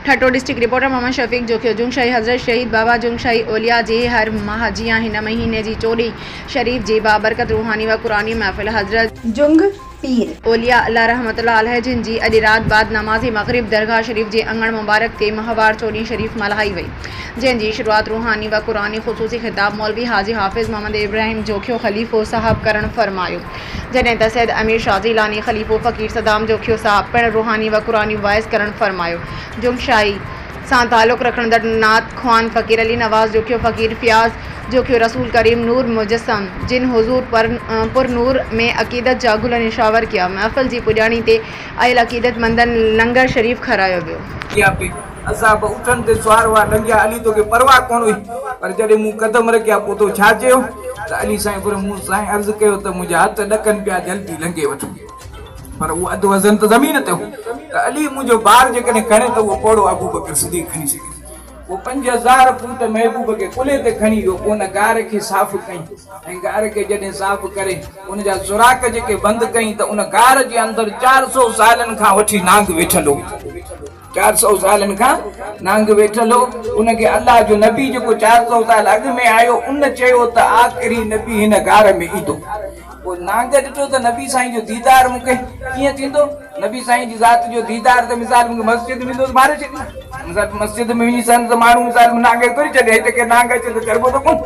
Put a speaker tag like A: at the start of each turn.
A: Thatta, district reporter, Muhammad Shafiq Jokhio, Jungshahi حضرت شهيد بابا جون شاهي اولياء جي هر ماهه جيان هن مهيني جي چوڏهين شريف جي بابرڪت روحاني و قرآني محفل حضرت جنگ پير اولياء الله رحمة الله عليه جن جي اڄ رات بعد نماز مغرب درگاهه شريف جي اڱڻ مبارڪ تي ماهوار چوڏهين شريف ملهائي وئي جنهن جي شروعات روحاني و قرآني خصوصي خطاب مولوي حاجي حافظ محمد ابراهيم جوکيو خليفو صاحب ڪرڻ فرمايو جڏهن ته سيد امير شاهه جيلاني خليفو فقير صدام جوکيو صاحب پڻ روحاني و قرآني واعظ ڪرڻ فرمايو. جومشاهي سان تعلق رکندڙ نعت خوان فقير علي نواز جوکيو فقير فياض جوکيو رسول ڪريم نور مجسم جن حضور پر نور ۾ عقيدت جا گل نشاور ڪيا. محفل جي پڄاڻي تي آيل عقيدت مندن لنگر شريف کارايو ويو. اها به اسان به اٺن
B: تي سوار هئا، ڏنگيا علي توکي پرواهه ڪونه هئي، پر جڏهن مون قدم رکيا پوء تو ڇا چيو؟ ته علي سائين پر مون سائين عرض ڪيو ته منهنجا هٿ ڏڪن پيا جلدي لنگهي وٺ، پر اهو اڌ وزن ته زمين تي هو ته علي منهنجو بار جيڪڏهن کڻي ته اهو پوڙهو ابوبڪر صديق کڻي سگهي ٿو. پوء پنج هزار فوٽ محبوب کي ڪلهي تي کڻي ويو، پوء ان غار کي صاف ڪيائين ۽ غار کي جڏهن صاف ڪري ان جا سوراخ جيڪي بند ڪيائين ته ان غار جي اندر چار سؤ سالن کان وٺي نانگ ويٺل هو. چار سؤ سالن کان نانگ ويٺل هو، ان کي الله جو نبي جيڪو چار سؤ سال اڳ ۾ آيو ان چيو ته آخري نبي هن غار ۾ ايندو. پوء نانگ ڏٺو ته نبي سائين جو ديدار مون کي ڪيئن ٿيندو؟ نبي سائين جي ذات جو ديدار ته مثال مون کي مسجد ۾ ويندس ماري ڇڏيندو. مثال مسجد ۾ وڃي سنت ماڻهو مثال نانگ کي گهري ڇڏي هتي ڪير نانگ اچي ته چئبو ته ڪونه.